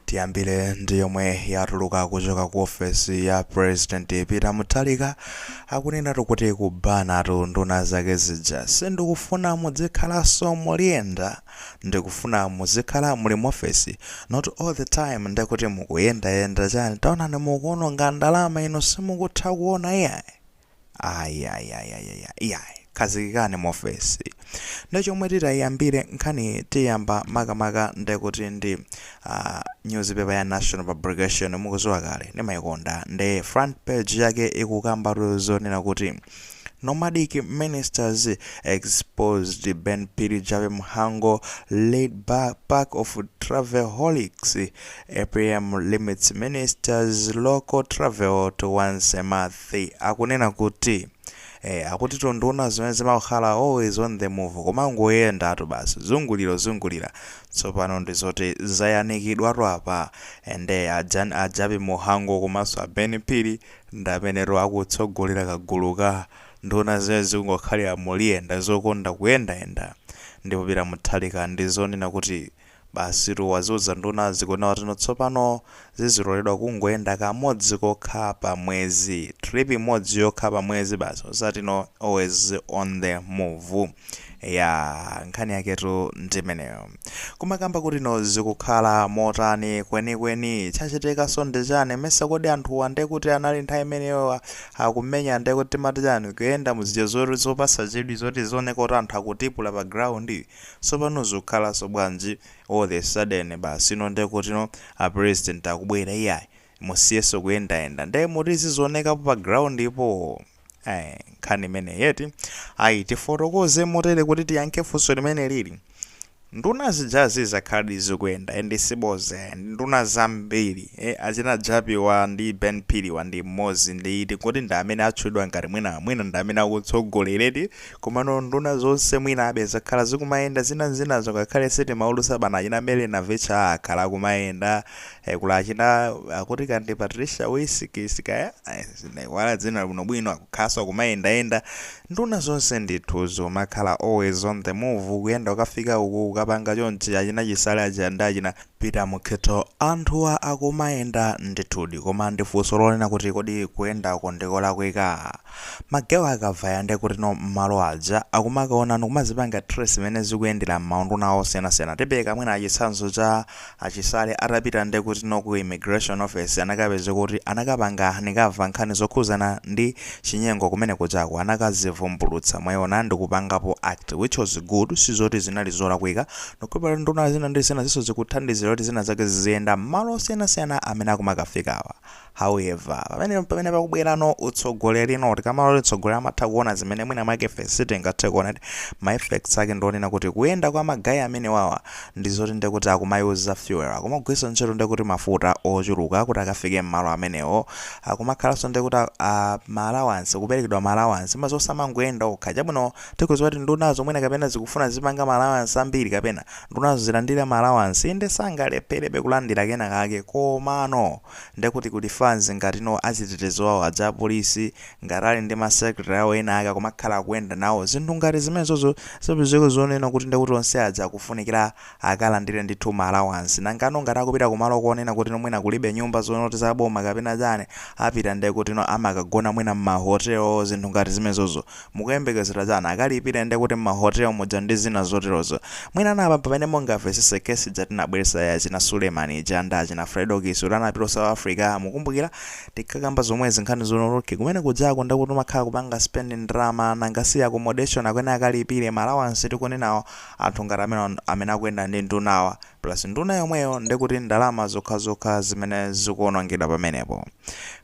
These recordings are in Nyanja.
Tiyambile ndi yomwe yatuluka kuchoka ku ofesi ya president Peter Mutharika akunenatu kuti kubanatu nduna zake zija sindikufuna mudzikhalanso muliyenda ndikufuna muzikhala muli mu ofesi not all the time ndekuti mukuyendayenda chani taonani mukuononga ndalama inu simukutha kuona iyayi Ayayayaya iyayi khazikikani muofesi nde chomwe titayiyambire nkhani tiyamba makamaka ndekuti ndi uh, newspaper ya National Publication mukuziwa kale ndimayikonda nde front page yake ikukamba zonena kuti Nomadic ministers exposed Ben Phiri Jappie Mhango lead pack of travelholics. APM limits ministers local travel to once a month. Nde akunena kuti eh akutitu nduna zimene zimakhala always on the move kumangoyendatu basi zungulirazungulira tsopano ndi zoti zayanikidwatu apa and eh, a Ja a Jappie Mhango komanso a Ben Phiri ndi amenetu akutsogolera kagulu ka nduna zimene zikungokhala muliyenda zokonda kuyendayenda ndipo Peter Mutharika ndi zonena kuti Basitu waziuza nduna zikunenedwa kutino tsopano ziziloledwa kungoyenda kamodzi kokha pa mwezi. Trip imodzi yokha pa mwezi basi osati no always on the move. Eyaa nkhani yaketu ndimeneyo. Kumakamba kutino zikukhala motani kwenikweni? Chachitikanso ndi chani? Mesa kodi anthuwa ndekuti anali nthawi imeneyo akumenya ndekuti timati chani? Kuyenda mu zija zopasa chidwi zoti zioneka kuti anthu akutipula pa ground? Sopano zukhalanso bwanji all the sudden basino nde kutino a president akubwera iyayi musiyenso kuyendayenda nde muti azionekapo pa ground po ee nkhani imeneyi eti ayi tifotokoze motere kuti tiyankhe funso limenelili nduna zijazi zakhaladi zikuyenda and siboza iyayi ndi nduna zambiri ee achina Jappie wa ndi Ben Phiri wa ndi amodzi ndi tikuti ndi amene atchulidwa ngati mwina mwina ndi amene akutsogolera eti Komano nduna zonse mwinabe zakhala zikumayenda zina zinazo ngakhale sitimaulutsa pano achina Mary Navicha akhala akumayenda eh, kula achina akuti kandi Patricia Wisikisi kaya eh, ndaiwala dzina bwinobwino akukhalanso akumayendayenda nduna zonse ndithu zikumakhala always on the move kuyenda kukafika uku kukapanga chonchi achina Chisale aja ndi achina Peter Mukhito, Anthuwa akumayenda ndithudi koma ndi funso lonena kuti kodi kuyendako ndi kolakwika? Magewa akavaya ndiye kutino mmalo aja akumakaona ndi kumazipanga trace mmene zikuyendera m'maunduna osiyanasiyana. Tipereka mwina chitsanzo cha a Chisale atapita ndiye kutino ku Immigration Office anakapezeka kuti anakapanga uncover nkhani zokhudzana ndi chinyengo kumene kujako anakazivumbulutsa mwayiona ndikupangapo act which was good sizoti zinali zolakwika Nokupera nduna zina ndi zina zinso zikuthandizira kuti zina zake ziziyenda m'malo osiyanasiyana amene akumakafikawa. However, pamene mpamene pakubwerano utsogoleri. Tikamati kuti mtsogoleri amatha kuona zimene mwina mwake ife sitingathe kuona. Ma effects ake ndi onena kuti kuyenda kwa ma guy amenewawa ndi zoti ndiye kuti akumayuza fuel, akumagwiritsa ntchito ndiye kuti mafuta ochuluka kuti akafike m'malo amenewo. Akumakhalanso ndiye kuti a ma allowance, kuperekedwa ma allowance. Mmadziwa samangoyenda okha. Chabwino. Tikudziwa kuti ndunazo mwina kapena zikufuna zizipanga ma allowance ambiri kapena ndunazo zilandire ma allowance inde sangalepherebe kulandira kena kake komano nde kuti kuli fans ngati no achitetezo awo aja apolisi ngati ali ndi ma secretary awo ena ake akumakhala akuyenda nawo zinthu ngati zimenezozo zipezeka zonena kuti ndekuti onse aja akufunikira akalandire ndithu ma allowance nangano ngati akupita kumalo konena kutino mwina kulibe nyumba zonoti za boma kapena chani apita nde kutino amakagona mwina mma hotel zinthu ngati zimezozo mukuyembekezera chani akalipire nde kuti mma hotel muja ndi zina zoterozo mwinano apa mpamene mungamvetsetse case ija tinabweresa ya achina suleman ija ndi achina fredokiss uti anapita ku south africa mukumbukira tinkakamba zomwezi nkhani zonoti okay kumene kujako ndekuti umakhala kupanga spend ndalama nanga si accommodation akuyenera akalipire ma allowance tikunenawo Anthu ngati amenewa nd amene akuyenda ndi ndunawa plus nduna yomweyo ndekuti ndalama zokhazokha zimene zikuonongedwa pamenepo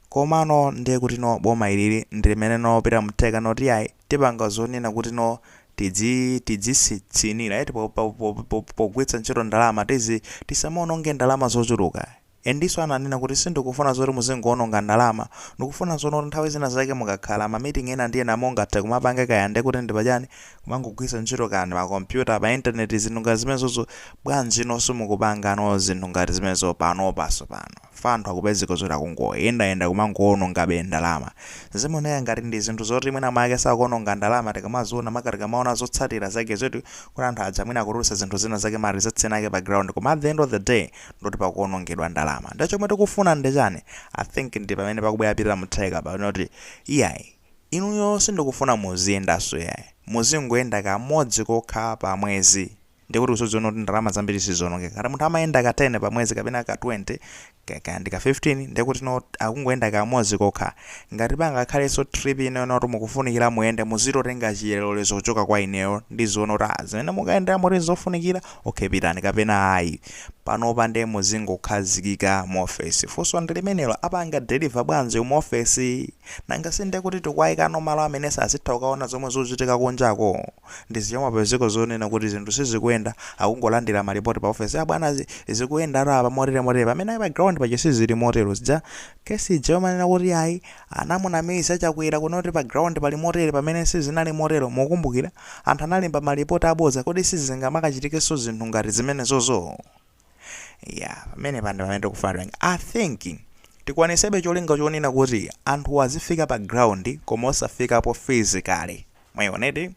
komano ndiye kuti no boma ilili ndilimene no peter mutharika noti iyayi tipanga zonena kuti no tidzi tidzisitsinira eti po po po po pogwiritsa ntchito ndalama tizi tisamaononge ndalama zochuluka Endiso ananena kuti sindikufuna zoti muzingowononga ndalama, ndikufuna zonoti nthawi zina zake mukakhala ma meeting ena ndi ena mungathe kumapanga kaya ndekuti ndi pachani kumangogwiritsa ntchito kaya ndi ma computer, pa internet zinthu ngati zimenezozo, bwanji nonse simukupangano zinthu ngati zimenezo panopa tsopano chifukwa anthu akupezeka zoti akungoyendayenda kumangowonongabe ndalama. Zimaoneka ngati ndi zinthu zoti mwina mwake sakuononga ndalama tikamaziona maka tikamaona zotsatira zake zoti kuti anthu aja mwina akutulutsa zinthu zina zake ma results ena ake pa ground koma at the end of the day, ndikuti pakuonongedwa ndalama nde chomwe tikufuna nde chani i think ndi pamene pakubwera peter mutharika apa kunena kuti iyayi inuyo sindikufuna muziyendaso iyayi muzingoyenda kamodzi kokha pa mwezi ndiye kuti uzadziona kuti ndalama zambiri sizionongeka ngati munthu amayenda ka 10 pa mwezi kapena ka 20 ka- kaya ndi ka 15 ndiye kuti no akungoyenda kamodzi kokha ngati pangakhalenso trip ina yonena kuti mukufunikira muyende muzitotenga chilolezo kuchoka kwa ineyo ndiziona kuti ah, zimene mukayendera moti nzofunikira Ok pitani kapena ayi. Panopa nde muzingokhazikika mu office. Funso ndi limenelo apanga deliver bwanji mu office? Nanga si nde kuti tikuwayikano malo amene sadzatha kukawona zomwe zikuchitika kunjako? Ndi zija zomapezeka zonena kuti zinthu sizikuyenda akungolandira ma report pa office ah bwana zikuyendatu apa motere motere pamene ayi pa ground paja sizili motero. Zija case ija yomanena kuti ayi Anamunamiza Chakwera kuno kuti pa ground pali motere pamene sizinali motero, mukukumbukira? Anthu analemba ma report abodza, kodi sizingamakachitikenso zinthu ngati zimenezozo? Yeah, pamenepa ndi pamene tikufuna tipange. I think tikwanisebe cholinga chonena kuti anthuwa azifika pa ground koma osafikapo physically. Mwayioneti?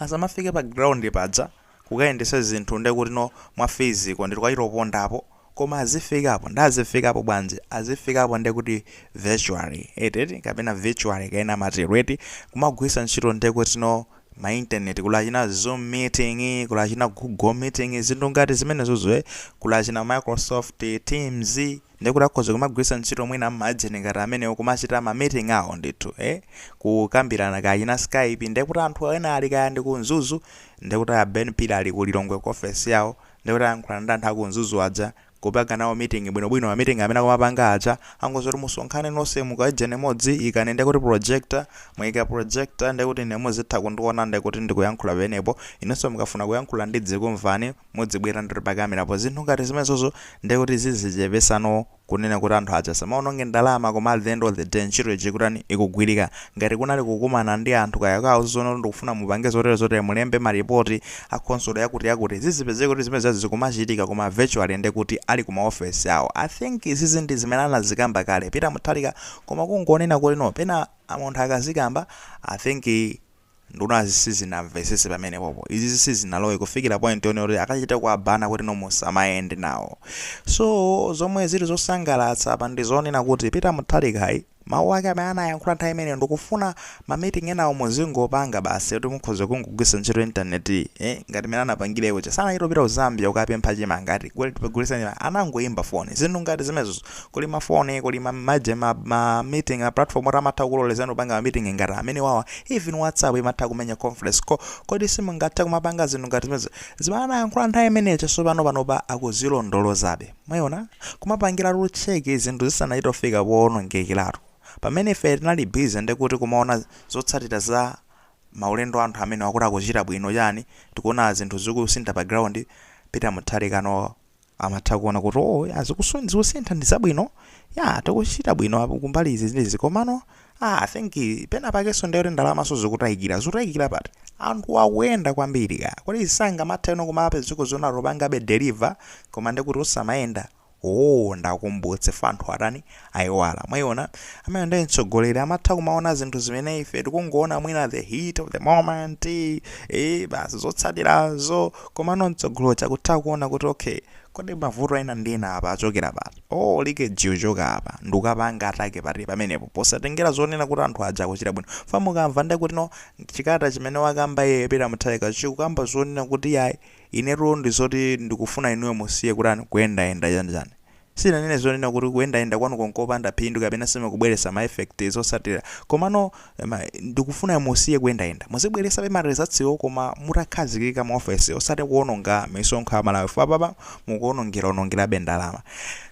Asamafike pa ground paja. kukayendesa zinthu nde kutino mwa physical ndithu kukachito pondapo koma azifikapo nde azifikapo bwanji azifikapo nde kuti virtually eti eti kapena virtually kaena amatero eti kumagwiritsa ntchito nde kutino ma internet kuli achina zoom meeting kuli achina google meeting zinthu ngati zimenezozo ee kuli achina microsoft teams ndekuti akhoza kumagwiritsa ntchito mwina ma agent ngati amenewo kumachita ma meeting awo ndithu eh kukambirana kaya china skype ndekuti anthu ena ali kaya ndi ku Mzuzu ndekuti a Ben Phiri ali ku Lilongwe ku office yawo ndekuti ayankhulana ndi anthu a ku Mzuzu aja kupanga nawo meeting bwinobwino ma meeting amene akumapanga aja kungoti kuti musonkhane nonse muika agent imodzi ikani ndekuti projector muyika projector ndekuti ine muzitha kundiona ndekuti ndikuyankhula pamenepo inenso mukafuna kuyankhula ndidzikumvani mudzibwera ndithu pa camera-po zinthu ngati zimenezozo ndiye kuti zizichepesa no kunena kuti anthu aja asamaononge ndalama koma at the end of the day ntchito ija ikutani ikugwirika ngati kunali kukumana ndi anthu kaya kauzano ndikufuna mupange zotere zotere mulembe maripoti a khonsolo yakuti yakuti zizipezeka kuti zimenezizi zikumachitika koma virtually ndiye kuti ali ku maofesi awo i think izizi ndi zimene anazikamba kale peter mutharika koma kungonena kuti no pena munthu akazikamba i think Nduna zi sizinamvesese pamenepopo izizi sizinalowe kufikila point yonena kuti akachite kuwa-ban-a kuti no musamayende nawo so zomwe zili zosangalatsa apa ndizonena kuti Peter Mutharika mawu ake amene anayankhula nthawi imeneyo ndikufuna ma meeting enawo muzingopanga basi kuti mukhoza kungogwiritsa ntchito internet yi eh, ngati mene anapangile uja sanachita kupita ku Zambia kukapempha chimanga ati kuli tikugulitsa chimanga anangoyimba foni zinthu ngati zimenezo kuli ma phone kuli ma maje ma, ma meeting a platform oti amatha kukulolezani kupanga ma meeting ngati amene wawa even whatsapp imatha kumenya conference call kodi simungathe kumapanga zinthu ngati zimenezo zimene anayankhula nthawi imeneyo chasopano panopa akuzilondolozabe mwayiona kumapangira tu check zinthu zisanachite kufika poonongekeratu pamene ife tinali busy ndikuti kumaona zotsatira za maulendo anthu amene akuti akuchita bwino chani tikuona zinthu zikusintha pa ground Peter Mutharika no amatha kuona kuti o oh, ah zinthuzi zikusintha ndi zabwino ya tikuchita bwino kumbali izi zizi komano ah, I think pena pakenso ndiyoti ndalamaso zikutayikira zikutayikira pati anthu akuyenda kwambiri ka kodi sizingamatheno kumapezeka zoona opangabe deliver koma ndikuti osamayenda o oh, ndiwakumbutse anthu atani aiwala. Mwaiona? Amene ndi mtsogoleri amatha kumaona zinthu zimene ife tikungoona mwina the heat of the moment, eh, basi zotsatirazo. Komano mtsogolo cha kutha kuona kuti okay, kodi mavuto ena ndi ena apa achokera pati? Oh, leakage yochoka apa ndi kukapanga attack pati pamenepo posatengera zonena kuti anthu aja akuchita bwino. Fa mukamva ndiye kuti no chikata chimene wakamba a Peter Mutharika chikukamba zonena kuti yayi inetu ndi zoti ndikufuna inuyo musiye kutani kuyendayenda chani chani. Sinanene zonena kuti kuyendayenda kwanuko nkopanda phindu kapena simukubweretsa ma effect, zotsatira. Komano ma, ndikufuna musiye kuyendayenda. Muzibweretsabe ma results wo koma mutakhazikika mu office osati kuononga misonkho ya Amalawi chifukwa apapa mukuonongera onongerabe ndalama.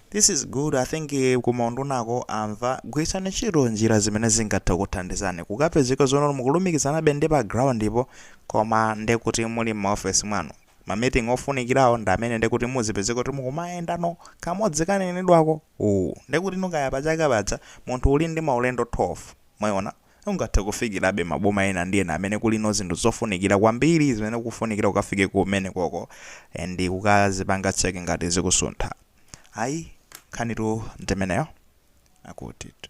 This is good, I think ku maundunako amva. Gwiritsani ntchito njira zimene zingathe kukuthandizani. Kukapezeka zonena kuti mukulumikizanabe ndi pa ground po koma ndekuti muli mma office mwanu. ma meeting ofunikirawo ndi amene ndekuti muzipezeka kuti mukumayenda no kamodzi kanenedwako uwu ndekuti no kaya pa chaka paja munthu uli ndi maulendo 12 mwayiona ungathe kufikirabe maboma ena ndi ena amene kuli no zinthu zofunikira kwambiri zimene kufunikira ukafike kumenekoko and kukazipanga check ngati zikusuntha ayi nkhanitu ndimeneyo akutitu.